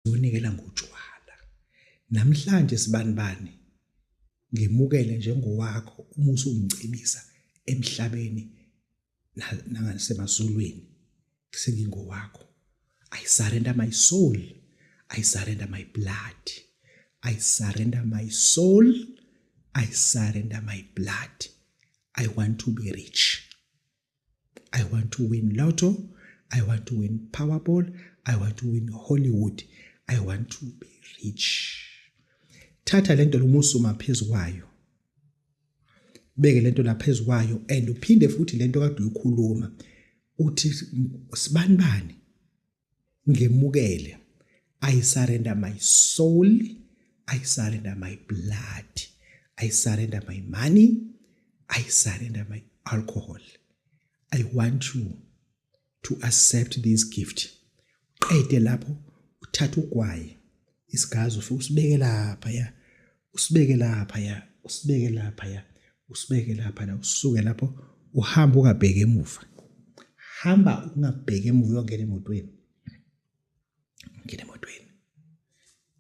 zonikela ngotshwala namhlanje sibanibani ngimukele njengowakho uma usungicebisa emhlabeni nangasemazulwini sengingowakho i surrender my soul i surrender my blood i surrender my soul i surrender my blood i want to be rich I want to win lotto. I want to win Powerball. I want to win Hollywood. I want to be rich. Thatha lento lomusuma phezulu kwayo. Beke lento la phezulu kwayo and uphinde futhi lento kade uyikhuluma uthi sibani bani ngemukele i surrender my soul i surrender my blood i surrender my money i surrender my alcohol i want you to accept this gift qede lapho uthatha ugwayi isigazi ufike usibeke lapha ya usibeke lapha ya usibeke lapha ya usibeke lapha la usuke lapho uhamba ungabheki emuva hamba ungabheki emuva uyongena emotweni ngena emotweni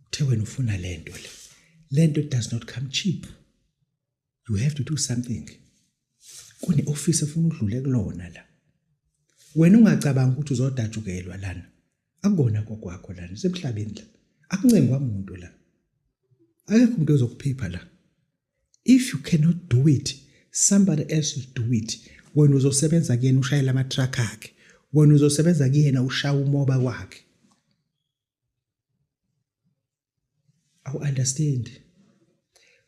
uthe wena ufuna lento le lento does not come cheap you have to do something kune-ofisi efuna udlule kulona la wena ungacabanga ukuthi uzodatshukelwa lana akukona kokwakho lana usemhlabeni la akuncengwa muntu la akekho umuntu ozokuphipha la if you cannot do it somebody else will do it wena uzosebenza kuyena ushayela amatruck akhe wena uzosebenza kuyena ushaya umoba wakhe awu-understand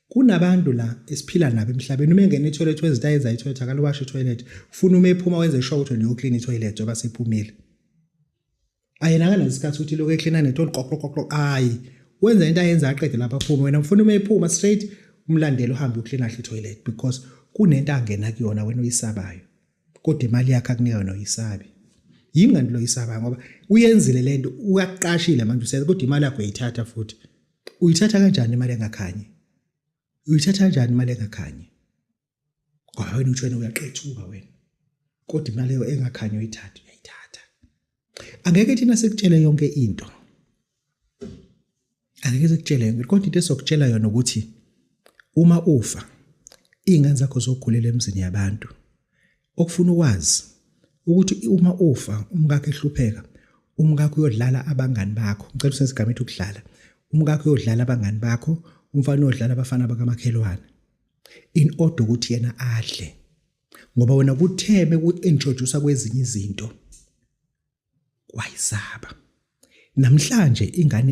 kunabantu la esiphila nabo emhlabeni uma engena ithoyilethi wenza into ayenza ithoyilethi akaluwashe ithoyilethi ufuna uma ephuma wenze sure ukuthi niyoklina ithoyilethi njengoba sephumile ayena akanasikhathi ukuthi lokhu eklina netoni qoqoqoqo ayi wenza into ayenza aqede lapha aphume wena ufuna uma ephuma straight umlandela uhambe uklina ahle ithoyilethi because kunento angena kuyona wena uyisabayo kodwa imali yakhe akunika yona uyisabi yingani lo yisaba ngoba uyenzile lento uyaqashile manje usenza kodwa imali yakho uyithatha futhi uyithatha kanjani imali engakhanyi uyithatha kanjani imali engakhanyi ngoba wena utshwena uyaqethuka wena kodwa imali engakhanyi uyithatha angeke thina sikutshele yonke into angeke sikutshele yonke kodwa into esokutshela yona ukuthi uma ufa iy'ngane zakho zokhulela emzini yabantu okufuna ukwazi ukuthi uma ufa umkakho ehlupheka umkakho uyodlala abangani bakho ngicela usenze igama ethi ukudlala umkakho uyodlala abangani bakho umfana uyodlala abafana bakamakhelwane in order ukuthi yena adle ngoba wena kuthe beku-introduce kwezinye izinto wayisaba namhlanje ingane